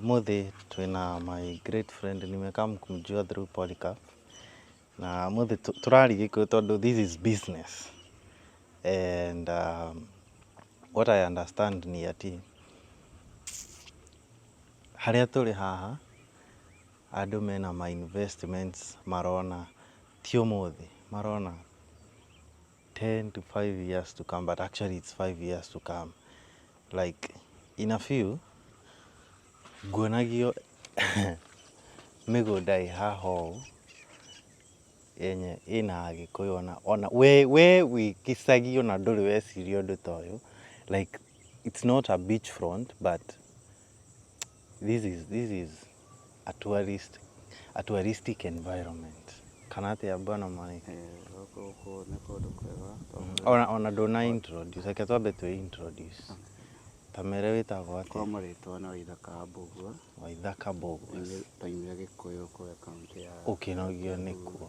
Ũmũthĩ twĩna my great friend nimecome kumjua through Polycarp na ũmũthĩ tũ- tũraria gĩkũyũ tondũ this is business and um, what I understand ni atĩ harĩa tũrĩ haha andũ mena ma investments marona ti ũmũthĩ marona 10 to 5 years to come but actually it's 5 years to come like in a few nguonagio mĩgũnda ĩ haha ũũ yenye ĩna agĩkũyũ ona ona we we wĩ gĩcagi ona ndũrĩ weciria ũndũ ta ũyũ like it's not a beach front but this is, this is a tourist, a touristic environment kana atĩa bwana mwaniki Eh, gũkũ gũkũ nĩ kũndũ kwega tondũ ona ona ndũna introduce reke twambe twĩ introduce tamere wĩtagwo atĩa kwamo rĩtwa nĩ waithaka mbũgua waithaka bogo taimire gĩkũyũ kũrĩa kaunti ya ũkĩnogio nĩkuo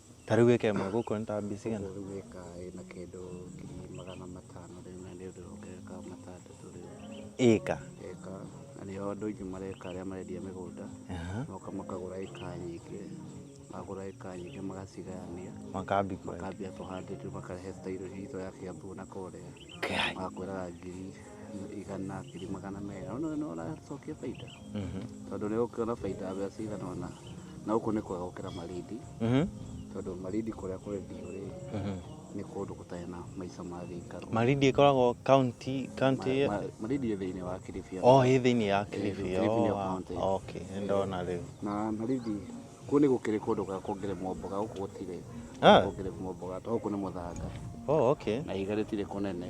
Ta rĩu ĩka ĩmwe gũkũ nĩ ta mbia cigana? Ũguo rĩu ĩka ĩna kĩndũ ngiri magana matano rĩu na nĩ ũndũ ũngĩka matandatũ rĩu. Ĩka? Ĩka, na nĩo andũ aingĩ mareka arĩa marendia mĩgũnda, moka makagũra ĩka nyingĩ, magũra ĩka nyingĩ magacigayania, makambia kũhanda, makarehe style hihi ta ya Kiambu na kũrĩa. wakwĩraga ngiri igana ngiri magana merĩ no nĩ ũracokia baita Mhm. tondũ nĩ ũkuona baita mbeca cigana ona na gũkũ nĩ kwega gũkĩra marindi Mhm. tondũ marindi kũrĩa kũrĩ ndiũ rĩ Mhm. nĩ kũndũ gũtarĩ na maica ma gĩikaro marindi ĩkoragwo kaunti kaunti Ma- ma- marindi ĩ thĩinĩ wa kiribia o ĩ thĩinĩ ya kilifi Kilifi nĩ o, county. ah, okay nĩ ndona rĩu na marindi Kũu nĩ gũkĩrĩ kũndũ gwa kuongererwo mboga, gũkũ gũtirĩ Ah. kuongererwo mboga, tondũ gũkũ nĩ mũthanga Oh, okay. na ihiga rĩtirĩ kũnene.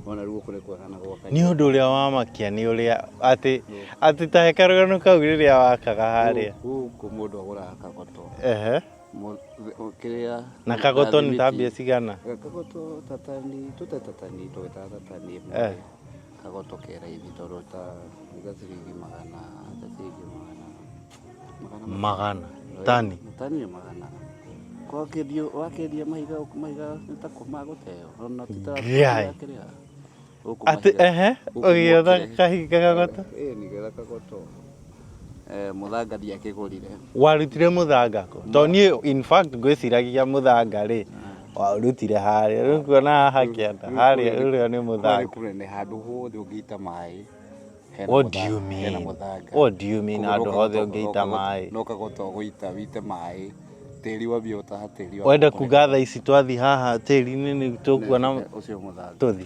Ona rĩu gũkũ nĩ kwega na gwaka. Nĩ ũndũ ũrĩa wamakia nĩ ũrĩa atĩ atĩ ta hekarũgano kau rĩrĩa wakaga harĩa. Gũkũ mũndũ agũraga kagoto. Ehe. Mũ- ũ- Kĩrĩa. Na kagoto nĩ ta thimiti. mbia cigana? Kagoto tatani, tũte tatani, tũgĩtaga tatani ĩmwe. Eh. Kagoto ke raithi tondũ ta uga ciringi magana ta ciringi magana magana magana tani tani nĩ magana kwakĩendio wakĩendia mahiga mahiga nĩ ta kuma gũteo ona Ngai. tũtakĩrĩa atĩ ehe ũgĩetha kahinga gagoto ĩĩ nĩ getha kagoto Eh, mũthanga ndiakĩgũrire warutire mũthanga kũ to niĩ in fact ngwĩciragia mũthanga rĩ warutire harĩa rĩu kuona haha kĩanda harĩa ũrĩa nĩ mũthanga kũrĩ handũ hothe ũngĩita maĩ What do you mean? What do you mean handũ hothe ũngĩita maĩ no kagota ũgũita wite maĩ tĩri wa bio ta tĩri wa wenda kuga tha ici twathi haha tĩri-inĩ nĩ tũkuona ũcio mũthanga tũthi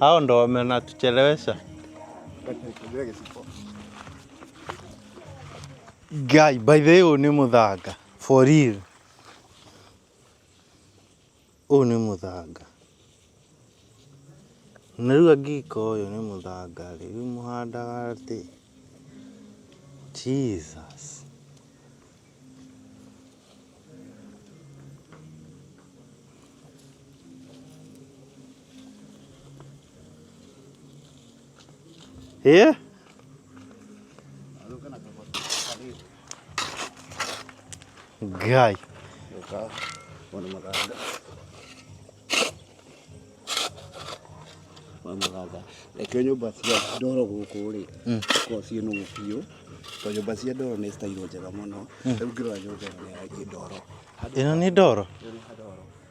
Hao ndo wamenatuchelewesha. Guy, by the way, ũyũ nĩ mũthanga for real. Ũyũ nĩ mũthanga, na rĩu angĩka ũyũ nĩ mũthanga rĩ, rĩu mũhandaga atĩ, Jesus. A guy mwamugaga reke nyũmba cia ndoro gũkũ rĩ korwo ciĩ nũgũ biũ to nyũmba cia ndoro nĩ citairwo njega mũno rĩu ngĩrora nyũmba ĩno nĩ ndoro ĩno nĩ ndoro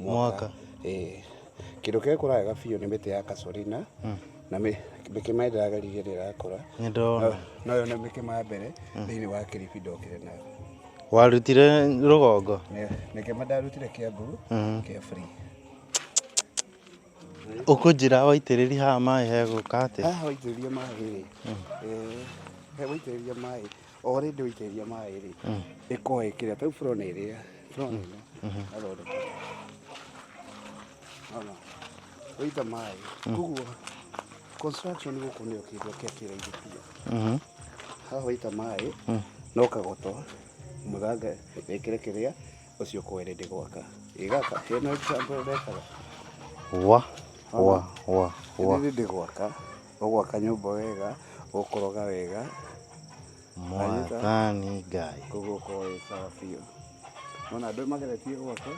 Mwaka. Ĩĩ. Kĩndũ kĩrĩa gĩkũraga wega biũ nĩ mĩtĩ ya kasorina na mĩ- mĩkĩma ĩrĩa ndĩrageria rĩrĩa ĩrakũra Nĩndona. No- no yone mĩkĩma ya mbere thĩinĩ wa kĩrĩbi ndokire nayo Warutire rũgongo. Nĩ- mĩkĩma ndarutire kĩambu kĩa free Ũkũnjĩra waitĩrĩri haha maĩ hegũka atĩa? haha waitĩrĩria maĩ rĩ eh, he waitĩrĩria maĩ o rĩndĩ ũitĩrĩria maĩ rĩ ĩkorwo ĩkĩrĩa ta rĩu bũrona ĩrĩa bũrona ĩno athondeka ona ũita maĩ koguo construction gũkũ nĩyo kĩndũ kĩa kĩraithi biũ Mhm. haha waita maĩ no kagoto mũthanga wĩkĩre kĩrĩa ũcio ũkorwo rĩndĩ gwaka ĩgaka hena example ndekaga wa wa wa wa rĩndĩ gwaka Ũgwaka nyũmba wega, ũkũroga wega. Mwathani Ngai. Koguo ũkoragwo wĩ sawa biũ. Wona andũ mageretie gwaka,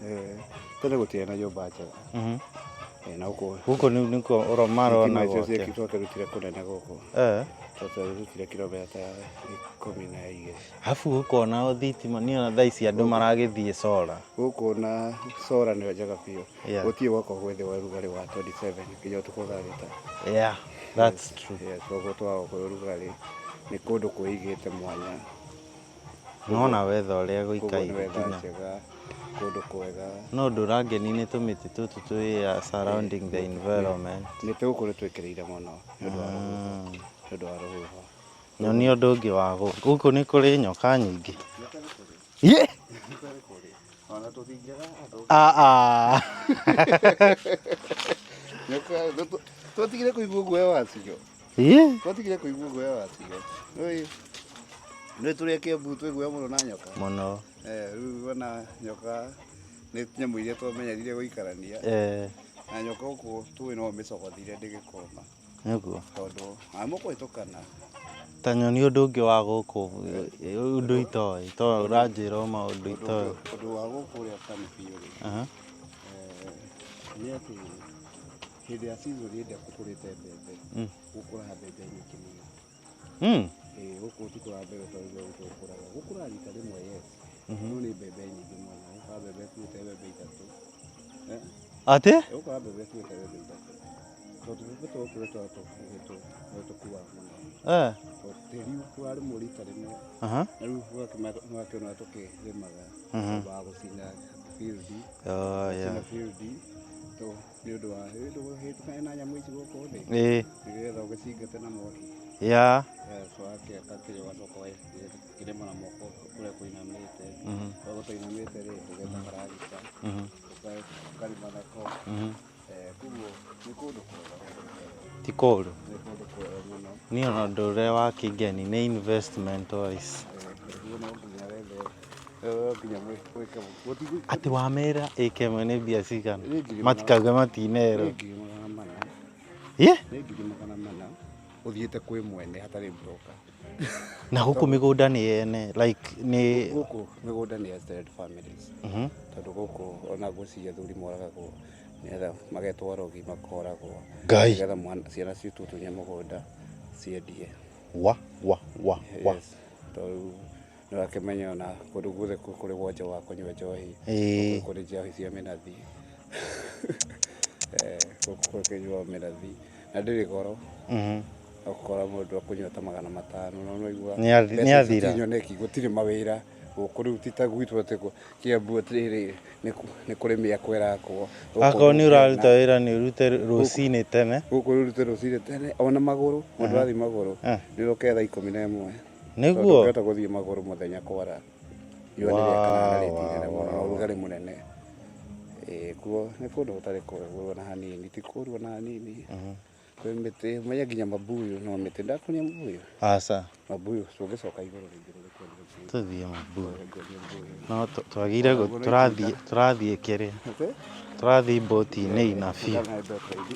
eh, tene gũtiarĩ na nyũmba njega. Mhm. Eh, na gũkũ Gũkũ nĩ nĩkuo ũro- marona thitima icio gwake. ciekĩtwo tũrutire kũnene gũkũ. Eh. Tũrutire kirometa ikũmi na igĩrĩ. Arabu gũkũ ona o thitima niĩ ona thaa ici andũ maragĩthiĩ cora. Gũkũ na cora nĩyo njega biũ. Yeah. Utie wako with the rugarĩ wa 27 nginya ũtukũ thaa thita. Yeah, that's yes. true. Yes, koguo twa wako rugarĩ nĩ kũndũ kwĩigĩte mwanya. Nona wetha ũrĩa gũikaire nginya kũndũ kwega. No ũndũ ũrangeni nĩ tũmĩtĩ tũtũ twĩ uh, surrounding the environment. Nĩ tũgũkorwo twĩkĩrĩire mũno nĩ ũndũ wa rũhuho. Mm. Nĩ ũndũ wa rũhuho. Nyonia ũndũ ũngĩ wa gũkũ. Gũkũ nĩ kũrĩ nyoka nyingĩ. Yĩ! Ona tũthingaga andũ. Ah, ah. Nĩka- nĩtũ- Twatigire kũigua guoya wacio. Yĩ! Twatigire kũigua guoya wacio. Nĩũĩ, nĩ tũrĩa kĩambu twĩ guoya mũno na nyoka. Mũno. Eh, Rĩu ona nyoka nĩ nyamũ iria twamenyerire gũikarania. Eh, Na nyoka gũkũ tũĩ no mĩcogothire ndĩgĩkoma. Nĩguo. Tondũ a mũkũhĩtũkana. Ta nyoni ũndũ ũngĩ wa gũkũ ũndũ itoĩ to ũranjĩra o maũndũ itoĩ. Ũndũ wa gũkũ ũrĩa ũtarĩ biũ rĩ. Aha. Nĩ atĩ hĩndĩ ya season ĩrĩa kũkũrĩte mbembe gũkũraga mbembe nyingĩ mũno. Mm. Eh, gũkũ ti kũra mbere kwa igwa gũkũ kũraga gũkũra rita rĩmwe yes Mhm. no nĩ mbembe nyingĩ mũno gũkũra mbembe tuĩte mbembe ithatũ Eh, Atĩ? eh, gũkũra mbembe tuĩte mbembe ithatũ tondũ tũbebe twakũra twa tũkuhĩtũ no tũkuaga mũno Eh. tondũ tĩri warĩmwo rita rĩmwe Aha. na rĩu ũgakĩona tũkĩrĩmaga Mhm. wa gũcina field Oh, yeah. gũcina field to nĩ ũndũ wa rĩu ndũgũhĩtũkane na nyamũ ici gũkũ thĩ ĩĩ nĩgetha ũgĩcingate na mwaki ya wakĩaka kĩrĩa ũgacoka kĩrĩma na moko kũrĩa kũinamĩte mhm. kũrĩa gũtainamĩte rĩ ũgetha karagita mhm. ũkarima nako mhm. eh, kuguo nĩ kũndũ kwega ti kũndũ niĩ ona ũndũ ũrĩa wa kĩngeni nĩ investment wise eh, Ati wamera AKM nĩ mbia cigana? Matikauge matinero. Ye? nĩ ngiri magana mana uthiite kwi mwene hatari broka Na huku migunda ni yene like ni guku migunda ni extended families Mhm. tondu guku ona guci athuri moragagwo nigetha magetwa rogi makoragwo Ngai. nigetha mwana- ciana citu tunye mugunda ciendie wa wa wa wa. Yes. Tondu Ndũrakĩmenye ona kũndũ guothe kũ- kũrĩ wonje wa kũnyua njohi Ĩĩ. kũndũ kũrĩ njohi cia mĩnathi Eh, gũkũ kũrĩ kũnyuaga mĩnathi na ndĩrĩ goro Mhm. ũkora mũndũ akũnyua ta magana matano na ũraigua Nĩ athi- mbeca nĩ icio athira. ti nyoneki gũtirĩ mawĩra gũkũ rĩu ti ta gwitũ atĩ kũ- kĩambu atĩrĩrĩ nĩ kũ- nĩ kũrĩ mĩako ĩrakwo Gũkũ akorwo nĩ gũkena. ũraruta wĩra nĩ ũrute rũcinĩ tene gũkũ rĩu rute rũcinĩ tene ona magũrũ mũndũ arathiĩ magũrũ Ah. nĩ rũketha ikũmi na ĩmwe Nĩguo? Tũngĩhota gũthiĩ magũrũ mũthenya kwara. Riũa nĩ rĩakana na rĩti nene mũno na ũrugarĩ mũnene. Ĩĩ kuo nĩ kũndũ gũtarĩ kũrũ ona hanini, ti kũru ona hanini. Kwĩ mĩtĩ, ũmenye nginya mabuyu no mĩtĩ. Ndakuonia mabuyu? Aca. Mabuyu, tũngĩcoka igũrũ rĩngĩ rĩrĩ kũndũ gũkuhĩ. Tũthiĩ mabuyu. Nguonie mabuyu. No tũ- twagĩire gũ- tũrathiĩ tũrathiĩ kĩrĩa. Tũrathiĩ mbũti-inĩ inabi. Kana mbeto ithi.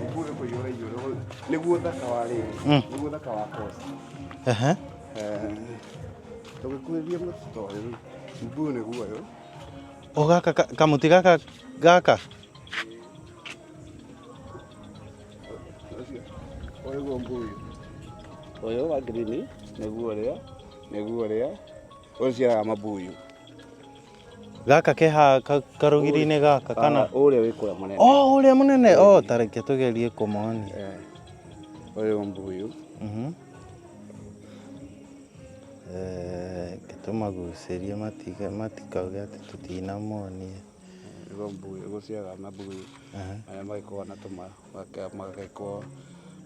Nĩguo ũrĩkũ yũra igũrũ hau. Nĩguo thaka wa rĩrĩ. Mm. Nĩguo thaka wa kosi. Ehe. Tũgĩkuhĩrĩria mũtĩ ta ũyũ. Nĩguo nĩguo ũyũ. O gaka ka- kamuti gaka gaka. Ũcio. Ũyũ guo mbuyu. Ũyũ wa ngirini. Nĩguo ũrĩa. Nĩguo ũrĩa. Ũyũ ũciaraga mabuyu. gaka ke ha ka- karũgiri-inĩ gaka kana Kana ũrĩa wĩ kũrĩa mũnene. o ũrĩa mũnene o tareke tũgerie kũmonia Eh, Ũyũ mbuyu. Mhm. Eh, reke tũmagucĩrie matiga- matikauge atĩ tũtinamonia Ũyũ mbuyu. Gũciaga na mbuyu. Aha. Arĩa magĩkoragwo na tũma. magake- Magagĩkorwo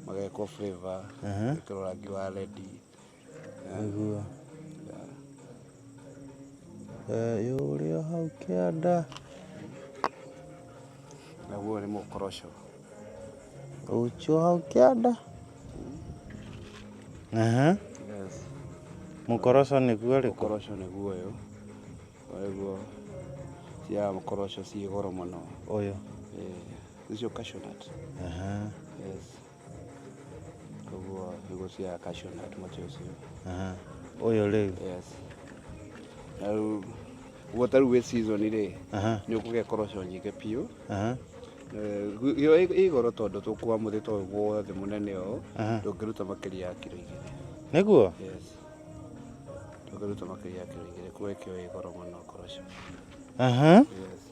magekwo flavour. Aha. Ĩkĩrwo rangi wa red. Nĩguo. Thayũ ũrĩ o hau kĩanda. Naguo ũyũ nĩ mũkoroco. Ũkĩ o hau kĩanda. Aha. Yes. Mũkoroco nĩguo ũrĩkũ? Mũkoroco nĩguo ũyũ. Koguo cia mũkoroco ciĩ goro mũno. Ũyũ. Eh, Nĩcio cashew nut. Aha. Yes. koguo mbegũ cia cashew nut mũtĩ ũcio Aha. Ũyũ rĩu. yes na rĩu guo ta rĩu wĩ season rĩ Aha. nĩ ũkũgĩa koroco nyingĩ biũ Aha. Eh, gu- yo ĩ- ĩ goro tondũ tũkuwa mũtĩ ta ũyũ guothe mũnene ũũ Aha. ndũngĩruta makĩria ya kiro igĩrĩ Nĩguo? yes ndũngĩruta makĩria ya kiro igĩrĩ kuo ĩkĩo ĩ goro mũno koroco Aha. yes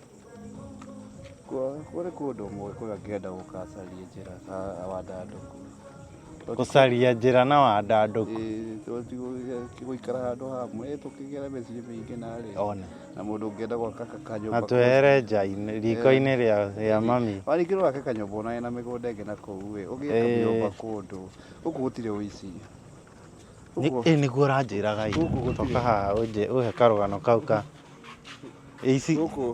Kũrĩ kũndũ ũmwe kũrĩa ngĩenda gũgacaria njĩra na wandandũku. Gũcaria njĩra na wandandũku. Gũikara handũ hamwe tũkĩgera mĩciĩ mĩingĩ na rĩ. Ona. Na mũndũ ũngĩenda gwaka kanyũmba. Na twehere nja riko-inĩ rĩa mami. Warĩkia gwaka kanyũmba ona wĩna mĩgũnda ĩngĩ na kũu rĩ, ũgĩaka nyũmba kũndũ gũkũ gũtirĩ ũici. ĩ nĩguo ũranjĩraga ira Gũkũ gũtirĩ. toka haha ũnjĩ- ũhe karũgano kau ka ici gũkũ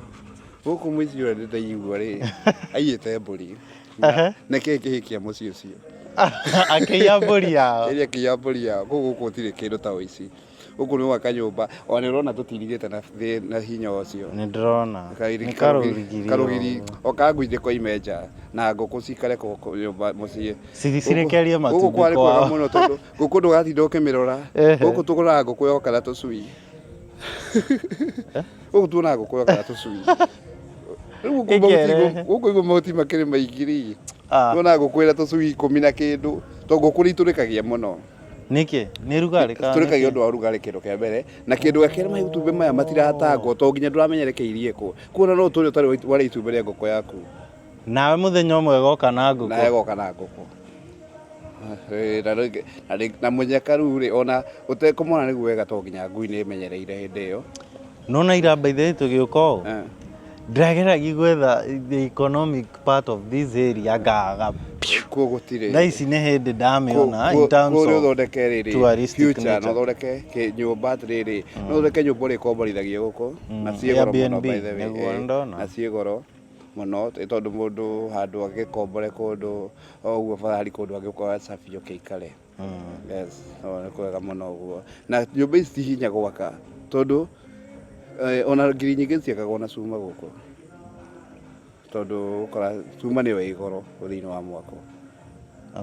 gũkũ mũici ũrĩa ndĩtaigua rĩ aiyĩte mbũri Ehe. na nĩkĩĩ kĩhĩkia mũciĩ ũcio akĩiya mbũri yao ĩrĩa kĩiya mbũri yao kũu gũkũ gũtirĩ kĩndũ ta ũici Gũkũ nĩ gwaka nyũmba. Ona ũrona tũtiirigĩte na thĩ na hinya ũcio. Nĩ ndĩrona. Kairi- Nĩ karũgirigiri. Karũgiri. O ka ngui ndĩkoime nja. Na ngũkũ cikare kũ- kũ- nyũmba mũciĩ. Ciri- cirekerie Gũkũ matumbĩ kwarĩ kwao. kwega mũno tondũ ngũkũ ndũgatinda ũkĩmĩrora. Ehe. Gũkũ tũroraga ngũkũ yoka na tũcui. Gũkũ tuonaga ngũkũ yoka na tũcui. Rĩu gũkũ mahuti- Ĩkerehe. gũkũ hĩguo mahuti makĩrĩ maingĩ-rĩ, Ah. tuonaga ngũkũ ĩna tũcui ikũmi na kĩndũ. Tondũ ngũkũ nĩ itũrĩkagia mũno. Nĩkĩ? Nĩ rugarĩ kana Tũrĩkagia nĩkĩ? ũndũ wa rugarĩ kĩndũ kĩa mbere na kĩndũ gĩa kerĩ matumbĩ maya matiratangwo to nginya ndũramenya rekeiriĩ kũ kuona no ũtũre ũtarĩ wa- warĩa itumbĩ rĩa ngũkũ yaku Nawe mũthenya ũmwe goka na nawe ngũkũ. goka na ngũkũ Eh, na rĩngĩ- na rĩngĩ- na mũnyaka rĩu rĩ ona ũtekũmona nĩguo wega to nginya ngui nĩ ĩmenyereire hĩndĩ ĩyo nona ira by the way tũgĩũka ũũ Eh. ndĩrageragia gwetha the economic part of this area ngaga kuo gũtirĩ thaa ici nĩ hĩndĩ ndamĩona in terms kũrĩ of ũthondeke rĩrĩ touristic future na nature. ũthondeke kĩ- nyũmba atĩrĩrĩ no ũthondeke nyũmba ũrĩkomborithagio gũkũ na ciĩ goro mũno Airbnb, by the way, nĩguo eh, ndona. na ciĩ goro mũno ĩ tondũ mũndũ handũ agĩkombore kũndũ o ũguo barahari kũndũ angĩũka wacabio kĩikare Yes, no, nĩ kwega mũno ũguo na nyũmba ici ti hinya gwaka tondũ eh, ona ngiri nyingĩ ciakagwo na cuma gũkũ tondũ ũkora cuma nĩyo ĩ goro thĩinĩ wa mwako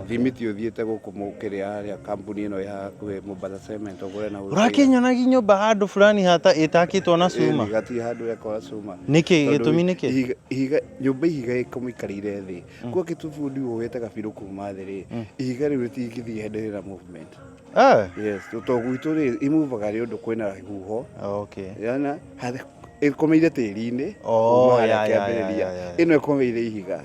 thimiti ũthiĩte gũkũ mũkĩrĩa harĩa kambuni ĩno ĩ hakuhĩ Mombasa Cement ũgũre na ũrakĩnyonagia nyũmba handũ fulani hata ĩtakĩtwo na cuma gati handũ yakora cuma Nĩkĩ? Tondũ Gĩtũmi nĩkĩ? ihiga- ihiga- nyũmba ihiga ĩkamũikarĩire thĩ Kwa kitu fundi wogete gabiru kuma thĩ rĩ, ihiga rĩu rĩtingĩthiĩ hĩndĩ rĩna movement. Eh, Yes, to gwitũ rĩ, imuvaga nĩ ũndũ kwĩna huho. okay. Yana, harĩ- ĩkomeire tĩri-inĩ. Oh, kuma harĩa ya, ya, ya, kĩambĩrĩria. ya, ya. Ĩno ĩkomeire ihiga.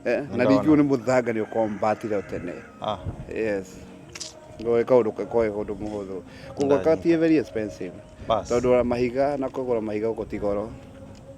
Eh, na Nĩndona. rĩngĩ ũyũ nĩ mũthanga nĩ ũkombatire o tene. Ah, Yes. Ngoĩ kaũndũ koĩ ũndũ mũhũthũ. Kũgwaka Ndagĩka. ti very expensive. Bas. Tondũ ona mahiga na kũgũra mahiga gũkũ ti goro.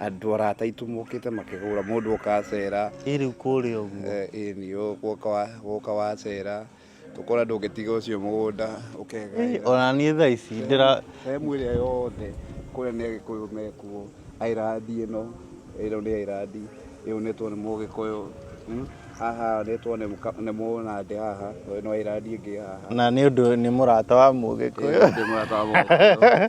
andå arata aitå mokä te makä hå ra må ndå oka acera ä rä u kå rä a å guo Eh, ĩĩ nĩ ũgũka wa- gũka wacera tũkona ndũngĩtiga ũcio mũgũnda ũkega ona niä thaa ici ndä sehemu ĩrĩa yothe kũrĩa nĩ agĩkũyũ mekuo airandi ĩno ĩno nĩ airandi ĩyo nĩ tuone mũgĩkũyũ mm, haha nĩ tuone mũka- nĩ mũnandĩ haha ĩno airandi ĩngĩ haha na nä å ndå nä må rata wa må gä kå yå Ĩĩ, nĩ mũrata wa mũgĩkũyũ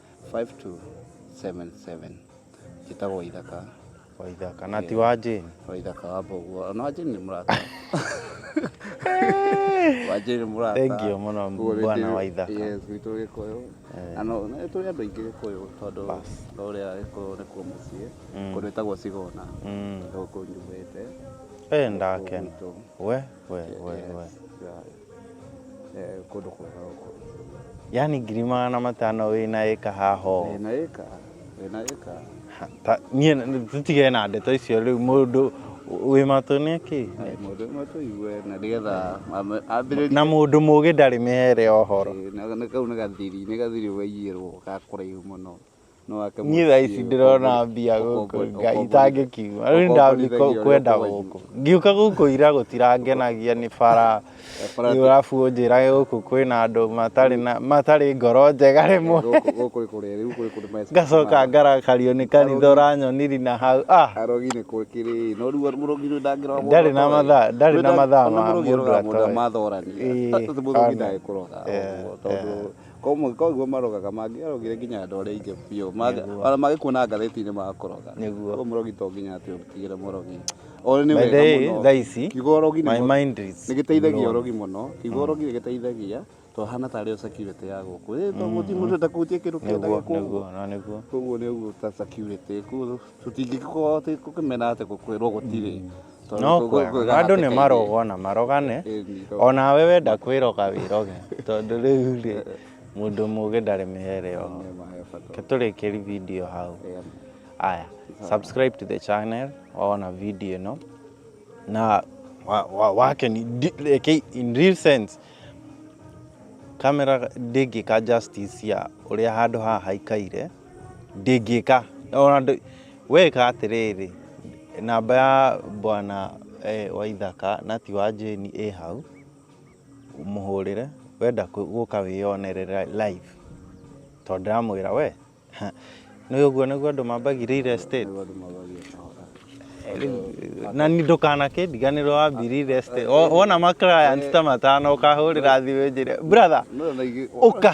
5277 njĩtagwo waithaka waithaka na ti wa jane waithaka wa mboguo ona wa jane nĩ mũrata wa jane nĩ mũrata Thank you mũno, Koguo nĩ bwana ndĩ- Waithaka. yes witũ gĩkũyũ na no nĩ tũrĩ andũ aingĩ gĩkũyũ tondũ Bas. no ũrĩa gĩkũyũ nĩ kuo mũciĩ Mm. kũndũ ĩtagwo cigona Mm. gũkũ njumĩte eh ndakena Gwitũ. we we we we Yes, yeah. eh, kũndũ kwega gũkũ yani ngiri magana matano wĩ na ĩka haha ũũ. Wĩ na ĩka wĩ na ĩka Ha, ta- niĩ n- tũtige na ndeto icio rĩu mũndũ wĩ matũ nĩ kĩ Ai, mũndũ ũmwe tũigue na nĩgetha ame- ambĩrĩrie na mũndũ mũgĩ ndarĩ mĩhere ũhoro Eh, na- na kau nĩ gathiri nĩ gathiri waiyĩrwo ga kũraihu mũno niĩ thaa ici ndĩrona mbia gũkũ ngai itangĩkiuma rĩu ndathiĩ kwenda gũkũ ngiũka gũkũ ira gũtirangenagia nĩ bara rĩu arabu ũnjĩrage gũkũ kwĩna andũ matarĩ na matarĩ ngoro njega rĩmwe ngacoka ngarakario nĩ kanitha ũranyoniri na hau ah ndarĩ na mathaa ndarĩ na mathaa ma mũndũ atoĩ Ĩĩ, Amen. Yeah, yeah. Komwe koguo marogaga mangĩarogire nginya andũ arĩa aingĩ biũ ona magĩkuona ngathĩti-inĩ makũroga nĩguo koguo mũrogi to nginya atĩ ũtigĩre mũrogi ona nĩ wega mũno thaa ici kiugo ũrogi nĩ gĩteithagia ũrogi mũno kiugo ũrogi nĩ gĩteithagia to hana tarĩ security ya gũkũ ĩ to mũti mũndũ atakutie kĩndũ kĩenda gĩkũgwo koguo nĩ ũguo ta security koguo tũtingĩkorwo atĩ kũkĩmena atĩ kwĩrwo gũtirĩ Tondũ no tũgũ- kwega kwĩgaga andũ nĩ atĩ kaingĩ- marogwo na marogane Ĩĩ, nĩ irogwo. onawe wenda kwĩroga wĩroge tondũ rĩu rĩ mũndũ mũgĩ ndarĩ mĩhere oho Nĩ ma he bata. Reke tũrĩkĩri video hau Ĩĩ, aya subscribe to the channel waona video ĩno na wa- wa- wake ni di- reke in real sense kamera ndĩngĩka justice ya ũrĩa handũ haha haikaire Ndĩngĩka ona ndũ- weka atĩrĩrĩ namba ya bwana eh, waithaka na ti wa jane ĩ hau mũhũrĩre wenda kũ- gũka wĩyonere ra- live tondũ ndĩramwĩra we nĩ ũguo nĩguo andũ mambagia real estate na nĩ ndũkanakĩndiganĩrwo wambiri real estate O- wona ma clients ta matano ũkahũrĩra thimũ njĩre brother ũka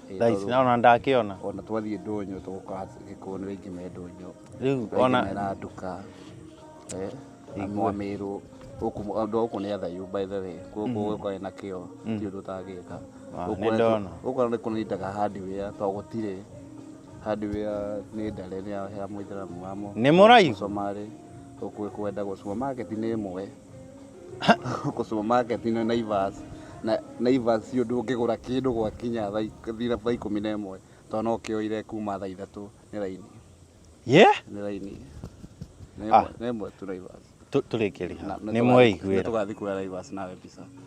Eh, thaa ici tondũ naona ndakĩona ona twathiĩ ndũnyũ tũgũkora gĩkũyũ nĩ rĩngĩ me ndũnyũ rĩu rĩngĩ me ona randuka eh, andũ a mĩrũ gũkũ andũ a gũkũ nĩ athayu by the way gũkũ gũkorwo na kĩo ti ũndũ ũtangĩka Ah, Gũkũ nĩ ndona. gũkũ nĩ kũnindaga hardware to gũtirĩ hardware nĩ ndare nĩ ya- ya mũithĩramu wamo Nĩ mũraihu? mũcomarĩ gũkũ kwenda gũcuma market nĩ ĩmwe Huko supermarket ino Naivas na Naivas cio ndũngĩgũra kĩndũ gwakinya thaa ik- thira- thaa ikũmi na ĩmwe tondũ no kĩoire kuma thaa ithatũ nĩ raini ye nĩ raini Nĩ Ah. ĩmwe- nĩ ĩmwe tu Naivas tå rä kä rä ha nä mweiguä ra tũgathiĩ kuoya Naivas nawe mbica